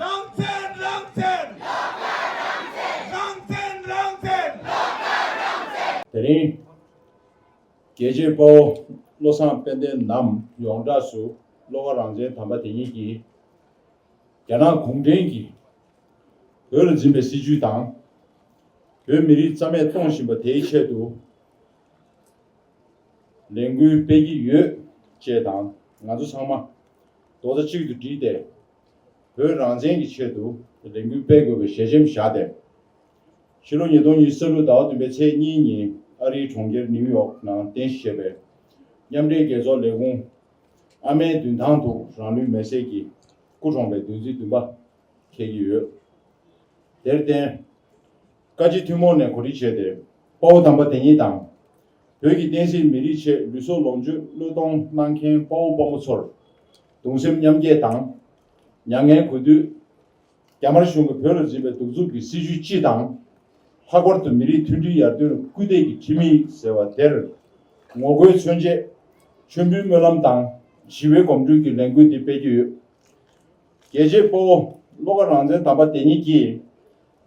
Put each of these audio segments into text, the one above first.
རང་བཙན་རང་བཙན། སློབ་གྲྭ་རང་བཙན། རང་བཙན་རང་བཙན། སློབ་གྲྭ་རང་བཙན། དེ་རིང། རྒྱལ་གཅེས་དཔའ་བོ་བློ་བཟང་དཔལ་ལྡན་ནམ་ཡོངས་གྲགས་སུ་སློབ་གྲྭ་རང་བཙན་དམ་པ་དེ་ཉིད་ཀྱིས། རྒྱ་ནག་གུང་ཁྲན་གྱིས་བོད་ལ་འཛིན་པའི་སྲིད་བྱུས་དང། བོད་མི་རིགས་རྩ་མེད་གཏོང་བཞིན་པ་དེའི་ཆེད་དུ། ལས་འགུལ་སྤེལ་གྱི་ཡོད། ཅེས་དང་ང་ཚོ་ཚང་མ་རྡོག་རྩ་གཅིག་ཏུ་བསྒྲིལ་ཏེ་བོད་རང་བཙན་གྱི་ཆེད་དུ་ལས་འགུལ་སྤེལ་དགོས་པའི་ཞལ་ཆེམས་བཞག་སྟེ། ཕྱི་ལོ་ཉིས་སྟོང་གཉིས་ས་ལུགས་ཟླ་བ་བདུན་པའི་ཚེས་གཉིས་ཉིན་ཨ་རིའི་གྲོང་ཁྱེར་ནིའུ་ཡོག་ནང་རྟེན་གཞི་བྱས་པའི་མཉམ་འབྲེལ་རྒྱལ་ཚོགས་ལས་ཁུངས་ཨ་མའི་མདུན་ཐང་དུ་རང་ལུས་མེར་སྲེག་གིས་སྐུ་གྲོངས་པའི་བདུན་ཚིགས་བདུན་པ་འཁེལ་གྱི་ཡོད། དེར་བརྟེན། བཀའ་སྤྱི་ཐུན་མོང་ནས་གོ་སྒྲིག་བྱས་ཏེ་དཔའ་བོ་དམ་པ་དེ་ཉིད་དང། བོད་ཀྱི་བསྟན་སྲིད་མི་རིགས་ཆེད་ལུས་སྲོག་ལོངས་སྤྱོད་བློས་གཏོང་གནང་མཁན་དཔའ་བོ་དཔའ་མོ་ཚོར་གདུང་སེམས་མཉམ་སྐྱེད་དང། མྱ་ངན་གུས་འདུད། རྒྱ་དམར་གཞུང་གིས་བོད་ལ་འཛིན་པའི་གདུག་རྩུབ་ཀྱི་སྲིད་བྱུས་སྤྱི་དང། ལྷག་པར་དུ་མི་རིགས་མཐུན་སྒྲིལ་ཡར་ཐོན་ལ་སྐུལ་འདེད་ཀྱི་ཁྲིམས་ཡིག་ཟེར་བ་དེར་ངོ་རྒོལ་མཚོན་ཆེད། མཆོད་འབུལ་སྨོན་ལམ་དང་ཞི་བའི་གོམ་བགྲོད་ཀྱི་ལས་འགུལ་འདི་སྤེལ་རྒྱུ་ཡོད། རྒྱལ་གཅེས་དཔའ་བོ་བློ་དགའ་རང་བཙན་དམ་པ་དེ་ཉིད་ཀྱིས།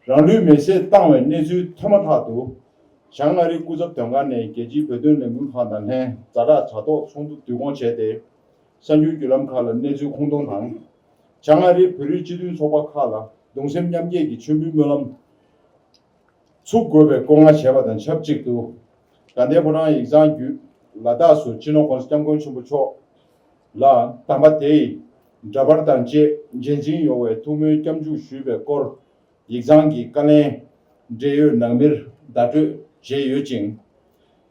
རང་ལུས་མེ་བསྲེགས་བཏང་བའི་གནས་ཚུལ་ཐོས་མ་ཐག་ཏུ། ཞང་མངའ་རིས་སྐུ་ཚབ་དོན་ཁང་ནས་རྒྱལ་སྤྱིའི་བོད་དོན་ལས་འགུལ་ཁང་དང་ལྷན་རྫ་བྲག་བྱ་ཐོག་ཚོགས་འདུ་བསྡུ་སྐོང་བྱས་ཏེ། གསར་འགྱུར་བརྒྱུད་ལམ་ཁག་ལ་གནས་ཚུལ་ཁུངས་སྟོང་དང། ཞང་མངའ་རིས་བོད་རིགས་སྤྱི་མཐུན་ཚོགས་པ་ཁག་ལ་གདུང་སེམས་མཉམ་སྐྱེད་ཀྱི་མཆོད་འབུལ་སྨོན་ལམ་ཚུགས་དགོས་པའི་བཀོད་མངགས་བྱས་པ་དང་ཆབས་ཅིག་ཏུ། དགའ་ལྡན་ཕོ་བྲང་ཡིག་ཚང་བརྒྱུད་ལ་དྭགས་སུ་སྤྱི་ནོར ྋགོང་ས ྋསྐྱབས་མགོན་ཆེན་པོ་མཆོག་ལ། དམ་པ་དེས་འདྲ་པར་དང་བཅས་རྗེས་འཛིན་ཡོང་བའི་ཐུགས་སྨོན་སྐྱབས་འཇུག་ཞུས་པའི་སྐོར། ཡིག་ཚང་གི་བཀའ་ལན། འབྲེལ་ཡོད་ནང་མིར་བརྡ་སྤྲོད་བྱས་ཡོད་ཅིང།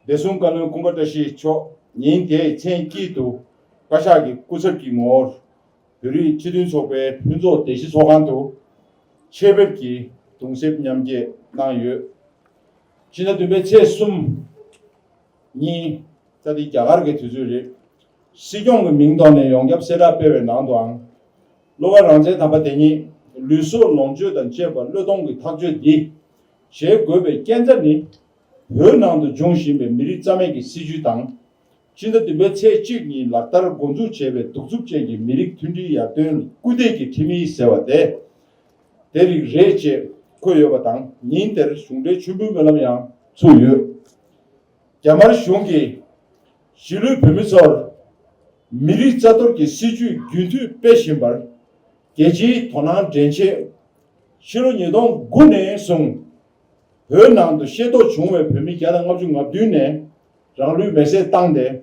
བདེ་སྲུང་བཀའ་བློན་ཀུན་དགའ་བཀྲ་ཤིས་མཆོག་ཉིན་དེའི་མཚན་དཀྱིལ་དུ། བཀའ་ཤག་གི་སྐུ་ཚབ་ཀྱི་ངོ་བོར། བོད་རིགས་སྤྱི་མཐུན་ཚོགས་པའི་ཕུན་ཚོགས་སྡེ་བཞི་ཚོགས་ཁང་དུ། ཆེད་ཕེབས་ཀྱིས་གདུང་སེམས་མཉམ་སྐྱེད་གནང་ཡོད། ཕྱི་ཟླ་བདུན་པའི་ཚེས་གསུམ། གཉིས། ད་འདི་རྒྱ་གར་གྱི་དུས་ཚོད་རེད། སྲིད་སྐྱོང་གི་མིང་ཐོག་ནས་ཡོངས་ཁྱབ་གསལ་བསྒྲགས་སྤེལ་བའི་ནང་དུའང། གློ་བ་རང་བཙན་དམ་པ་དེ་ཉིད་ལུས་སྲོག་ལོངས་སྤྱོད་དང་བཅས་པ་བློས་གཏོང་གིས་ཐག་གཅོད་འདི་བྱེད་དགོས་པའི་རྐྱེན་རྩ་ནི། བོད་ནང་དུ་འབྱུང་བཞིན་པའི་མི་རིགས་རྩ་མེད་ཀྱི་སྲིད་བྱུས་དང། སྤྱི་ཟླ་བདུན་པའི་ཚེས་གཅིག་ཉིན་ལག་བསྟར་འགོ་འཛུགས་བྱས་པའི་གདུག་རྩུབ་ཅན་གྱི་མི་རིགས་མཐུན་སྒྲིལ་ཡར་ཐོན་སྐུལ་འདེད་ཀྱི་ཁྲིམས་ཡིག་ཟེར་བ་དེ། དེ་རིགས་རེད་ཅེས་འཁོད་ཡོད་པ་དང་ཉིན་དེར་གཞུང་འབྲེལ་མཆོད་འབུལ་སྨོན་ལམ་ཡང་ཚུགས་ཡོད། རྒྱ་དམར་གཞུང་གིས་གཞིས་ལུས་བོད་མི་ཚོར་མི་རིགས་རྩ་གཏོར་གྱི་སྲིད་ཇུས་རྒྱུན་མཐུད་སྤེལ་བཞིན་པར་རྒྱལ་སྤྱིའི་དོ་སྣང་འདྲེན་ཆེད། ཕྱི་ལོ་ཉིས་སྟོང་དགུ་ནས་བཟུང་བོད་ནང་དུ་ཤེས་རྟོགས་བྱུང་བའི་བོད་མི་བརྒྱ་དང་ལྔ་བཅུ་ང་བདུན་ནས་རང་ལུས་མེར་སྲེག་བཏང་སྟེ།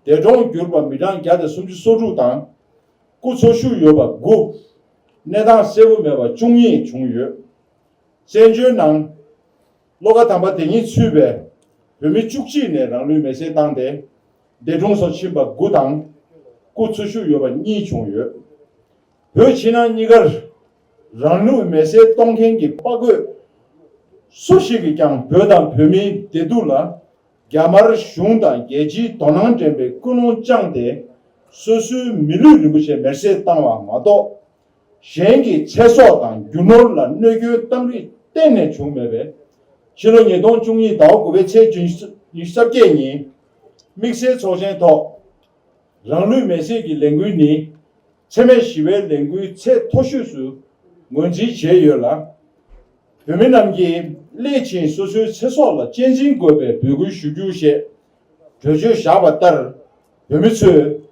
འདས་གྲོངས་གྱུར་པ་མི་གྲངས་བརྒྱ་དང་སུམ་ཅུ་སོ་དྲུག་དང་སྐུ་འཚོ་བཞུགས་ཡོད་པ་དགུ། གནས་སྟངས་གསལ་བོ་མེད་པ་བཅུ་གཉིས་བྱུང་ཡོད། བཙན་བྱོལ་ནང། བློ་ཁ་དམ་པ་དེ་གཉིས་ཚུད་པའི་བོད་མི་བཅུ་གཅིག་ནས་རང་ལུས་མེ་སྲེག་བཏང་སྟེ། འདས་གྲོངས་སུ་ཕྱིན་པ་དགུ་དང། སྐུ་འཚོ་བཞུགས་ཡོད་པ་གཉིས་བྱུང་ཡོད། བོད་ཕྱི་ནང་གཉིས་ཀར་རང་ལུས་མེ་སྲེག་གཏོང་མཁན་གྱི་དཔའ་རྒོད་སུ་ཞིག་གིས་ཀྱང་བོད་དང་བོད་མིའི་བདེ་སྡུག་ལ། རྒྱ་དམར་གཞུང་དང་རྒྱལ་སྤྱིའི་དོ་སྣང་འདྲེན་པའི་ཀུན་སློང་བཅངས་ཏེ། སོ་སོའི་མི་ལུས་རིན་པོ་ཆེ་མེར་སྲེག་བཏང་བ་མ་གཏོགས། གཞན་གྱི་ཚེ་སྲོག་དང་རྒྱུ་ནོར་ལ་གནོད་སྐྱོན་གཏང་རིགས་གཏན་ནས་བྱུང་མེད་པས། ཕྱི་ལོ་ཉིས་སྟོང་བཅུ་གཉིས་ཟླ་བ་དགུ་པའི་ཚེས་བཅུ་ཉིན་གསར་བརྒྱད་ཉིན། དམིགས་བསལ་ཚོགས་ཆེན་ཐོག་རང་ལུས་མེར་སྲེག་གི་ལས་འགུལ་ནི། འཚེ་མེད་ཞི་བའི་ལས་འགུལ་ཚད་མཐོ་ཤོས་སུ་ངོས་འཛིན་བྱས་ཡོད་ལ། བོད་མི་རྣམས་ཀྱིས་སླད་ཕྱིན་སོ་སོའི་ཚེ་སྲོག་ལ་གཅེས་འཛིན་དགོས་པའི་འབོད་སྐུལ་ཞུ་རྒྱུ་ཞེས་གྲོས་ཆོད་བཞག་པ་ལྟར། བོད་མི་ཚོས་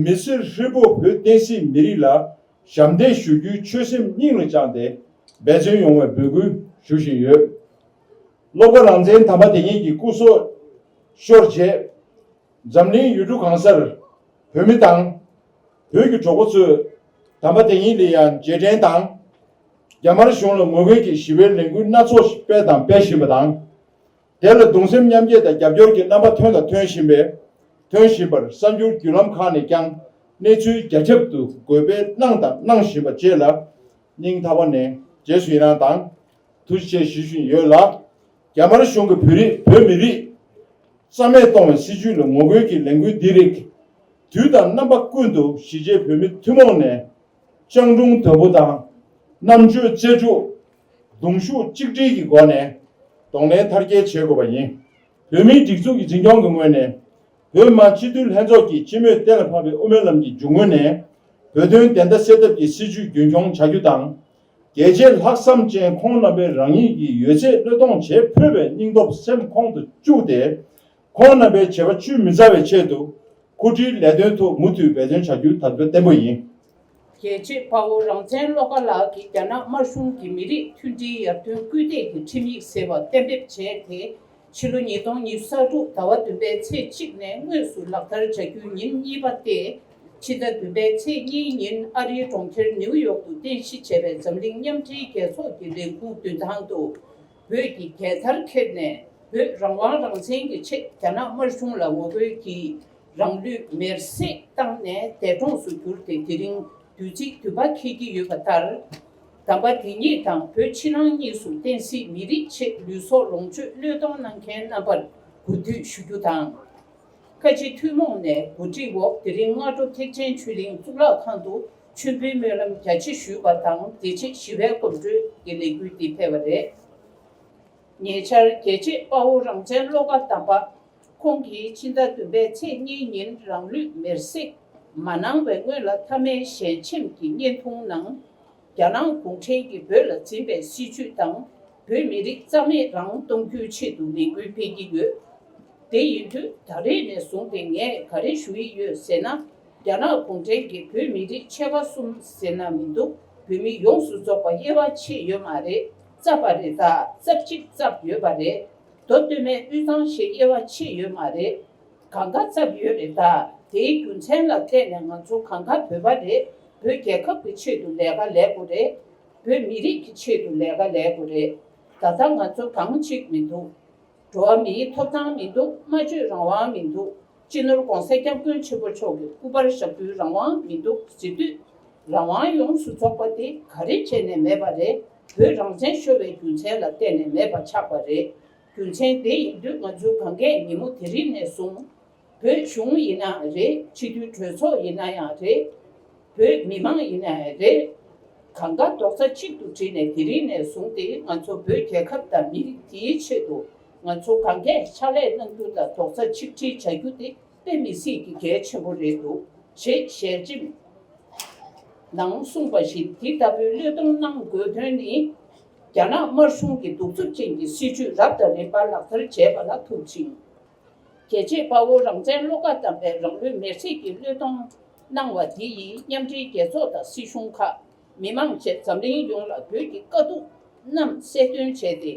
མི་སེར་ཧྲིལ་པོ་བོད་བསྟན་སྲིད་མི་རིགས་ལ་ཞབས་འདེགས་ཞུ་རྒྱུའི་ཆོད་སེམས་སྙིང་ལ་བཅངས་ཏེ་འབད་བརྩོན་ཡོང་བའི་འབོད་སྐུལ་ཞུ་བཞིན་ཡོད། སློབ་དགའ་རང་བཙན་དམ་པ་དེ་ཉིད་ཀྱི་སྐུ་སྲོག་ཤོར་རྗེས། འཛམ་གླིང་ཡུལ་གྲུ་གང་སར་བོད་མི་དང། བོད་ཀྱི་གྲོགས་པོ་ཚོས་དམ་པ་དེ་ཉིད་ལ་ཡང་རྗེས་དྲན་དང། རྒྱ་དམར་གཞུང་ལ་ངོ་རྒོལ་གྱི་ཞི་བའི་ལས་འགུལ་སྣ་ཚོགས་ཤིག་སྤེལ་དང་སྤེལ་བཞིན་པ་དང། དེ་ལ་གདུང་སེམས་མཉམ་སྐྱེད་དང་རྒྱབ་སྐྱོར་གྱི་རྣམ་པ་ཐོན་དང་ཐོན་བཞིན་པས་ཐོན་བཞིན་པར་གསར་འགྱུར་བརྒྱུད་ལམ་ཁག་ནས་ཀྱང་གནས་ཚུལ་རྒྱ་ཁྱབ་ཏུ་འགོད་སྤེལ་གནང་དང་གནང་བཞིན་པ་བཅས་ལ་སྙིང་ཐག་པ་ནས་རྗེས་སུ་ཡི་རངས་དང་ཐུགས་རྗེ་ཆེ་ཞུ་བཞིན་ཡོད་ལ། རྒྱ་དམར་གཞུང་གིས་བོད་རིགས་བོད་མི་རིགས་རྩ་མེད་གཏོང་བའི་སྲིད་བྱུས་ལ་ངོ་རྒོལ་གྱི་ལས་འགུལ་འདི་རིགས་དུས་དང་རྣམ་པ་ཀུན་ཏུ་གཞིས་བྱེས་བོད་མི་ཐུན་མོང་ནས་སྤྱང་གྲུང་དོལ་པོ་དང་རྣམ་དཔྱོད་རྩལ་སྤྲུགས། གདུང་ཤུགས་གཅིག་སྒྲིལ་གྱི་སྒོ་ནས་གདོང་ལེན་མཐར་སྐྱེལ་བྱེད་དགོས་པ་ཡིན། བོད་མིའི་སྒྲིག་འཛུགས་ཀྱི་འཛིན་སྐྱོང་གི་ངོས་ནས་བོད་དམངས་སྤྱི་འཐུས་ལྷན་ཚོགས་ཀྱིས་སྤྱི་མོས་གཏན་ལ་ཕབ་པའི་དབུ་མའི་ལམ་གྱི་རྒྱུ་དངོས་ནས་བོད་དོན་བདེན་མཐའ་གསལ་ཐབས་ཀྱི་སྲིད་བྱུས་རྒྱུན་འཁྱོངས་བྱ་རྒྱུ་དང། རྒྱལ་གཅེས་ལྷག་བསམ་ཅན་ཁོང་རྣམ་པས་རང་ཉིད་ཀྱི་ཡོད་ཚད་བློས་གཏོང་བྱེད་ཕོད་པའི་སྙིང་སྟོབས་སེམས་ཁོང་དུ་བཅུག་སྟེ། ཁོང་རྣམ་པའི་བྱེད་པ་བཅུད་མི་འཛའ་བའི་ཆེད་དུ། འཁུར་འཁྲིའི་ལས་དོན་ཐོག་མུ་མཐུད་འབད་བརྩོན་བྱ་རྒྱུ་དམ་བཅའ་བརྟན་པོ་ཡིན། རྒྱལ་གཅེས་དཔའ་བོ་རང་བཙན་བློ་དགའ་ལགས་ཀྱིས་རྒྱ་ནག་དམར་གཞུང་གིས་མི་རིགས་མཐུན་སྒྲིལ་ཡར་ཐོན་སྐུལ་འདེད་ཀྱི་ཁྲིམས་ཡིག་ཟེར་བ་གཏན་འབེབས་བྱས་དེ། ཕྱི་ལོ་ཉིས་སྟོང་ཉི་ས་དྲུག་ཟླ་བ་བདུན་པའི་ཚེས་གཅིག་ནས་དངོས་སུ་ལག་བསྟར་བྱ་རྒྱུའི་ཉིན་གཉིས་པ་སྟེ། ཕྱི་ཟླ་བདུན་པའི་ཚེས་གཉིས་ཉིན་ཨ་རིའི་གྲོང་ཁྱེར་ནེའུ་ཡོག་ཏུ་རྟེན་གཞི་བྱས་པའི་འཛམ་གླིང་མཉམ་འབྲེལ་རྒྱལ་ཚོགས་ཀྱི་ལས་ཁུངས་མདུན་ཐང་དུ་བོད་ཀྱི་རྒྱལ་དར་འཁྱེར་ནས་བོད་རང་དབང་རང་བཙན་གྱི་ཆེད་རྒྱ་ནག་དམར་གཞུང་ལ་ངོ་རྒོལ་གྱིས་རང་ལུས་མེར་བསྲེགས་བཏང་ནས་འདས་གྲོངས་སུ་གྱུར་ཏེ་དེ་རིང་དུས་ཚིགས་དུས་བབ་འཁེལ་གྱི་ཡོད་པ་ལྟར། དམ་པ་དེ་ཉིད་དང་བོད་ཕྱི་ནང་གཉིས་སུ་བསྟན་སྲིད་མི་རིགས་ཆེད་ལུས་སྲོག་ལོངས་སྤྱོད་བློས་གཏོང་གནང་མཁན་རྣམ་པར་གུས་བཏུད་ཞུ་རྒྱུ་དང། བཀའ་སྤྱི་ཐུན་མོང་ནས་གོ་སྒྲིག་འོག་དེ་རིང་སྔ་དྲོ་ཐེག་ཆེན་ཆོས་གླིང་གཙུག་ལག་ཁང་དུ་མཆོད་འབུལ་སྨོན་ལམ་རྒྱ་ཆེ་ཞུས་པ་དང་དེ་རྗེས་ཞི་བའི་གོམ་བགྲོད་ཀྱི་ལས་འགུལ་འདི་ཕེབས་པ་རེད། ཉེ་ཆར་རྒྱལ་གཅེས་དཔའ་བོ་རང་བཙན་བློ་དགའ་དམ་པ་ཁོང་གིས་ཕྱི་ཟླ་བདུན་པའི་ཚེས་གཉིས་ཉིན་རང་ལུས་མེར་བསྲེགས་མ་གནང་བའི་སྔོན་ལ་མཐའ་མའི་ཞལ་ཆེམས་ཀྱི་བརྙན་ཐུང་ནང། རྒྱ་ནག་གུང་ཁྲན་གྱིས་བོད་ལ་འཛིན་པའི་སྲིད་བྱུས་དང་བོད་མི་རིགས་རྩ་མེད་རང་གཏོང་རྒྱུའི་ཆེད་དུ་ལས་འགུལ་སྤེལ་གྱི་ཡོད། དེ་ཡིན་དུས་ད་རེས་ནས་བཟུང་སྟེ་ངས་ག་རེ་ཞུ་ཡི་ཡོད་ཟེར་ན། རྒྱ་ནག་གུང་ཁྲན་གྱིས་བོད་མི་རིགས་ཕྱེད་ཀ་གསུམ་ཟེར་ན་མི་འདུག་བོད་མི་ཡོངས་སུ་རྫོགས་པ་དབྱེ་བ་ཕྱེས་ཡོད་མ་རེད། རྩ་བ་རེ་དང་རྩ་གཅིག་བརྩབས་ཡོད་པ་རེད། མདོ་སྟོད་སྨད་དབུས་གཙང་ཞེས་དབྱེ་བ་ཕྱེས་ཡོད་མ་རེད། གང་ག་ཚབ་ཡོད་རེད་ད་དེའི་རྒྱུ་མཚན་ལ་བལྟས་ནས་ང་ཚོ་གང་ག་བོད་པ་རེད་བོད་རྒྱལ་ཁབ་ཀྱི་ཆེད་དུ་ལས་ཀ་ལས་དགོས་རེད། བོད་མི་རིགས་ཀྱི་ཆེད་དུ་ལས་ཀ་ལས་དགོས་རེད་ད་ལྟ་ང་ཚོ་གང་གཅིག་མི་འདུག་འགྲོ་བ་མིའི་ཐོབ་ཐང་མི་འདུག་སྨྲ་བརྗོད་རང་དབང་མི་འདུག། སྤྱི་ནོར་གོང་གསལ་སྐྱབས་མགོན་ཆེན་པོ་མཆོག་གི་སྐུ་པར་ཞབས་བསྐུལ་རང་དབང་མི་འདུག་གཟི་བདུད་རང་དབང་ཡོངས་སུ་རྫོགས་པ་དེ་ག་རེ་བྱས་ནས་མེད་པ་རེད་བོད་རང་བཙན་ཤོར་བའི་རྒྱུ་མཚན་ལ་བལྟས་ནས་མེད་པ་ཆགས་པ་རེད་རྒྱུ་མཚན་དེ་ཡིན་དུས་ང་ཚོའི་གངས་སྐད་ཉིན་མོ་དེ་རིང་ནས་བཟུང་བོད་གཞུང་ཡིན་ན་རེད་སྤྱི་འཐུས་གྲོས་ཚོགས་ཡིན་ན་ཡང་རེད། བོད་མི་མང་ཡིན་ནའི་རེད། གང་དགའ་རྡོག་རྩ་གཅིག་ཏུ་བསྒྲིལ་ནས་དེ་རིང་ནས་བཟུང་སྟེ་ང་ཚོ་བོད་རྒྱལ་ཁབ་དང་མི་རིགས་འདིའི་ཆེད་དུ་ང་ཚོ་གང་གས་ཕྱག་ལས་གནང་རྒྱུ་དང་རྡོག་རྩ་ཆིག་སྒྲིལ་བྱ་རྒྱུ་དེ་དཔེ་མི་སྲིད་ཀྱི་གལ་ཆེན་པོ་རེད་འདུག་ཅེས་ཞལ་ཆེམས་ནང་གསུངས་པ་བཞིན་དེ་ལྟ་བུའི་བློས་གཏོང་གནང་དགོས་དོན་ནི། རྒྱ་ནག་དམར་གཞུང་གི་གདུག་རྩུབ་ཅན་གྱི་སྲིད་བྱུས་རབ་དང་རིམ་པ་ལག་བསྟར་བྱས་པ་ལ་ཐུག་ཅིང། རྒྱལ་གཅེས་དཔའ་བོ་རང་བཙན་བློ་ཁ་བསྡམས་པའི་རང་ལུས་མེར་སྲེག་གི་བློས་གཏོང་གནང་བ་འདི་ཡིས་མཉམ་འབྲེལ་རྒྱལ་ཚོགས་དང་སྲིད་གཞུང་ཁག་མི་དམངས་བཅས་འཛམ་གླིང་ཡོངས་ལ་བོད་ཀྱི་དཀའ་སྡུག་རྣམས་གསལ་སྟོན་བྱས་ཏེ།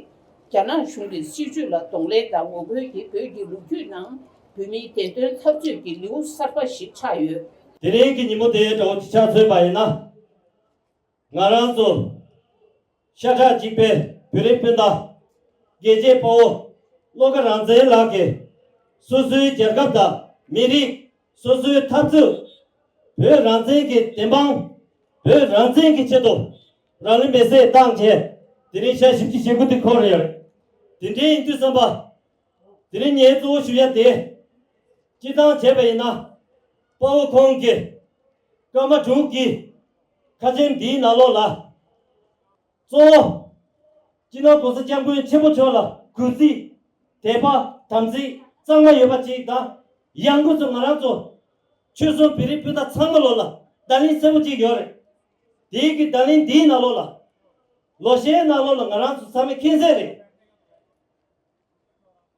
རྒྱ་ནག་གཞུང་གི་སྲིད་བྱུས་ལ་གདོང་ལེན་དང་ངོ་རྒོལ་གྱིས་བོད་ཀྱི་ལོ་རྒྱུས་ནང་བོད་མིའི་བདེན་དོན་འཐབ་རྩོད་ཀྱི་ལེའུ་གསར་པ་ཞིག་ཆགས་ཡོད། དེ་རིང་གི་ཉིན་མོ་དེའི་དགྲ་བོ་གྱི་ཆ་མཚོན་པ་ཡིན་ན། ང་རང་ཚོ་ཤ་ཁྲག་གཅིག་པའི་བོད་རིགས་སྤུན་ཟླ། རྒྱལ་གཅེས་དཔའ་བོ་བློ་དགའ་རང་བཙན་ལགས་ཀྱིས། སོ་སོའི་རྒྱལ་ཁབ་དང་མི་རིགས་སོ་སོའི་འཐབ་རྩོད། བོད་རང་བཙན་གྱི་བདེན་དཔང། བོད་རང་བཙན་གྱི་ཆེད་དུ་རང་ལུས་མེ་བསྲེགས་བཏང་རྗེས། དེ་རིང་ཞག་བཞི་བཅུ་ཞེ་དགུ་དེ་འཁོར་ཡོད་རེད། དེ་འདྲའི་ཡིན་དུས་བསམ་པ། དེ་རིང་ངའི་གཙོ་བོ་ཞུ་ཡ་དེས་སྤྱི་བཏང་བྱས་པ་ཡིན་ན། དཔའ་བོ་ཁོང་གིས་སྐར་མ་དྲུག་གི། ཁ་ཆེམས་འདིའི་ནང་ལོགས་ལ། གཙོ་བོ། སྤྱི་ནོར ྋགོང་ས ྋསྐྱབས་མགོན་ཆེན་པོ་མཆོག་ལ་གུས་བརྩི། དད་པ་དམ་ཚིག་གཙང་མ་ཡོད་པ་ཅིག་དང། ཡང་སྒོས་སུ་ང་རང་ཚོ། ཆོལ་གསུམ་བེ་རི་སྤུན་ཟླ་ཚང་མ་ལོགས་ལ་བརྡ་ལིང་གསལ་པོ་ཅིག་ཡོད་རེད། དེའི་དགེ་བརྡ་ལིང་འདིའི་ནང་ལོགས་ལ། ལོ་ཤས་ནང་ལོགས་ལ་ང་རང་ཚོ་ཚང་མས་མཁྱེན་གསལ་རེད།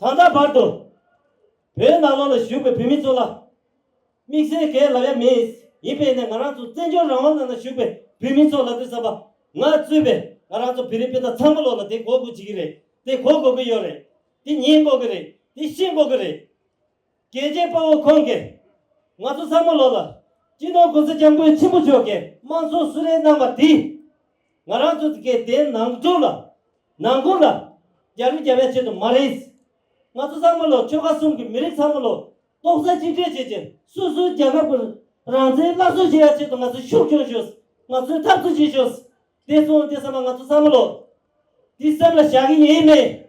ད་ལྟ་བར་དུ་བོད་ནང་ལོགས་ལ་བཞུགས་པའི་བོད་མི་ཚོ་ལ་དམིགས་བསལ་གའི་ལབ་ཡ་མེད་ཡིན་པས་ནས་ང་རང་ཚོ་བཙན་བྱོལ་རང་དབང་ནང་ན་བཞུགས་པའི་བོད་མི་ཚོ་ལ་དུས་བསམ་པ་ང་གཙོས་པའི་ང་རང་ཚོ་བོད་རིགས་སྤུན་ཟླ་ཚང་མ་ལོགས་ལ་དེ་གོ་དགོས་བྱེད་ཀྱི་རེད་དེ་གོ་དགོས་ཀྱི་ཡོད་རེད་དེ་ཉན་དགོས་ཀྱི་རེད་དེ་ཤེས་དགོས་ཀྱི་རེད། རྒྱལ་གཅེས་དཔའ་བོ་ཁོང་གིས་ང་ཚོ་སྲ་མོ་ལོ་ལ་སྤྱི་ནོར་གོང་ས་སྐྱབས་མགོན་ཆེན་པོ་མཆོག་གིས་དམངས་འཚོར་གསོལ་རས་གནང་བ་དེས་ང་རང་ཚོ་དགེ་ལྡན་ནང་སྦྱོང་ལ་ནང་སྐོར་ལ་རྒྱ་རུ་རྒྱ་བའི་ཆེད་དུ་མ་རེད། ང་ཚོ་སྲ་མོ་ལོ་ཆོལ་ཁ་གསུམ་གྱི་མི་རིགས་སྲ་མོ་ལོ་ཏོག་གསར་གཅིག་སྒྲིལ་བྱེད་ཆེད་སོ་སོའི་རྒྱལ་ཁབ་ཀྱི་རང་བཙན་སླར་གསོ་བྱེད་ཡ་ཆེད་དུ་ང་ཚོས་ཤུགས་སྐྱོན་ཤོས་ང་ཚོས་འཐབ་རྩོད་བྱེད་ཤོས་དེ་སོང་དེ་ས་མ་ང་ཚོ་སྲ་མོ་ལོ་འདི་སེམས་ལ་བཞག་གི་ཡིན་མེད།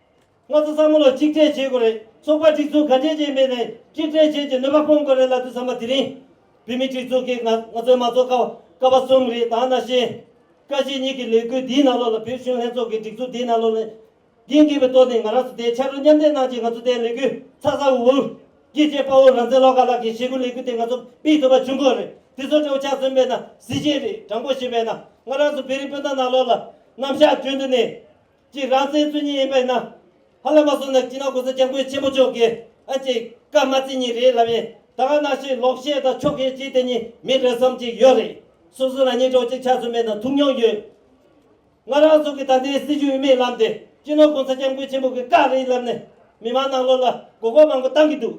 ང་ཚོ་བསམ་བློ་གཅིག་སྒྲིལ་བྱེད་དགོས་རེད་ཚོགས་པ་སྒྲིག་འཛུགས་ག་འདྲའི་རྗེས་མེད་ནས་གཅིག་སྒྲིལ་བྱེད་ཀྱི་ནུས་པ་སྤུངས་དགོས་རེད་ལབ་དུས་བསམ་པ་དེ་རིང་བོད་མི་སྒྲིག་འཛུགས་ཀྱིས་ང་ཚོའི་མ་འཚོགས་ཀ་ཀ་བ་གསུམ་རེད་ད་ནཱ་ཤེས། བཀའ་སྤྱི་གཉིས་ཀྱི་ལས་འགུལ་འདིའི་ནང་ལོགས་ལ་བོད་གཞུང་ལྷན་ཚོགས་ཀྱི་སྒྲིག་འཛུགས་འདིའི་ནང་ལོགས་ལ་འགན་འཁུར་བའི་ཏོག་ནས་ང་རང་ཚོ་དེའི་ཕྱར་གྲུ་མཉམ་འདེགས་གནང་ཆེད་ང་ཚོ་དེའི་ལས་འགུལ་ཚགས་ཚགས་འུར་འུར་གྱིས་བྱས་དཔའ་བོ་རང་བཙན་བློ་དགའ་ལགས་ཀྱིས་བྱེད་སྒོ་ལས་འགུལ་དེ་ང་ཚོ་སྤེལ་ཐུབ་པ་བྱུང་དགོས་རེད་དེ་ཚོ་ཁྲོ་ཆགས་ཟིན་པས་ན་གཟི་བརྗིད་རེད་དྲང་པོ་བྱས་པས་ན་ང་རང་ཚོ་བེ་རི་སྤུན་ཟླ་ནང་ལོགས་ལ་རྣམ་གཞག་བརྗོད་འདོད་ནས། ཀྱི་རང་བཙན་རྩོད་ཉེས་ཡིན་པས་ན། ཧ་ལས་མ་སོང་ན་སྤྱིར་ན་གོང་ས་སྐྱབས་མགོན་ཆེན་པོ་མཆོག་གིས་ཨ་ཅེ་ཀརྨ་བཙན་གཉིས་རེད་ལབ་ཡིན་ད་ག་ནང་བཞིན་ལོག་བཤད་དང་ཕྱོགས་ཁེངས་བྱེད་དེ་གཉིས་མི་རེད་བསམ་གྱི་ཡོད་རེད། སོ་སོ་རང་ཉིད་གྲོགས་གཅིག་ཆགས་སུ་མེད་ན་ཐུགས་མྱོང་ཡོད། ང་རང་ཚོ་གི་ད་ལྟའི་སྲིད་བྱུས་མིག་ལམ་དེ་སྤྱིར་ན་གོང་ས་སྐྱབས་མགོན་ཆེན་པོ་གིས་བཀག་རེད་ལབ་ནས་མི་མང་ནང་ལོག་ལ་མགོ་སྐོར་མང་པོ་བཏང་གི་འདུག་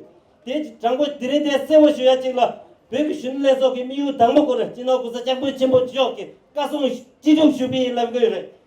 དེ་དྲང་པོ་དེ་རིང་དེ་གསལ་བོ་ཞུ་ཡ་གཅིག་ལ་བོད་ཀྱི་གཞོན་ནུ་ལྷན་ཚོགས་ཀྱི་དམིགས་ཡུལ་དང་པོ་སྐོར་སྤྱིར་ན་གོང་ས་སྐྱབས་མགོན་ཆེན་པོ་མཆོག་གིས་བཀའ་གསུང་ཅི་འགྲུབ་ཞུ་གི་ཡིན་ལབ་གི་རེད་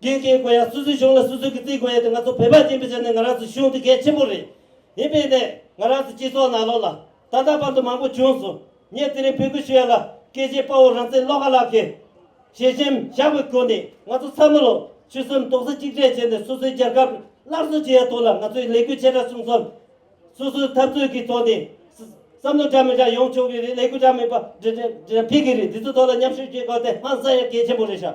སྐྱེས་སྐྱེས་དགོས་ཡ་སུ་སུའི་གཞུང་ལ་སུ་སུ་གི་རྩིས་དགོས་ཡ་དེ་ང་ཚོ་བོད་པ་སྐྱེས་པའི་ཆ་ནས་ང་རང་ཚོའི་གཞུང་དེ་གལ་ཆེན་པོ་རེད་ཡིན་པའི་གནད་ང་རང་ཚོའི་སྤྱི་ཚོགས་ནང་ལོག་ལ་ད་ལྟ་བར་དུ་མང་པོ་བྱུང་སོང་ངས་དེ་རིང་འབོད་སྐུལ་ཞུ་ཡ་ལ་སྐད་ཆའི་དཔའ་བོ་རང་བཙན་བློ་དགའ་ལགས་ཀྱིས། ཞེ་ཞེན་བཞག་པའི་སྒོ་ནས་ང་ཚོ་ཚང་མ་ལོག་ཆུ་སུམ་མདོག་ས་གཅིག་སྒྲིལ་བྱས་ནས་སོ་སོའི་རྒྱལ་ཁབ་སླར་གསོ་བྱེད་ཡ་ཐོག་ལ་ང་ཚོའི་ལས་འགུལ་ཆེ་ཕྲ་གསུམ་སོ་སོའི་འཐབ་རྩོད་ཀྱི་ཐོག་ནས་བསམ་བློ་འདྲ་མི་འདྲ་ཡོང་ཆོག་གི་རེད་ལས་འགུལ་འདྲ་མིན་པ་འདྲ་འདྲ་འདྲ་འདྲ་འདྲ་འཕེལ་གི་རེད་འདི་ཚོ་ཐོག་ལ་མཉམ་ཞུགས་བྱེད་དགོས་དེ་ཧང་སང་ཡ་གལ་ཆེན་པོ་རེད་ཤག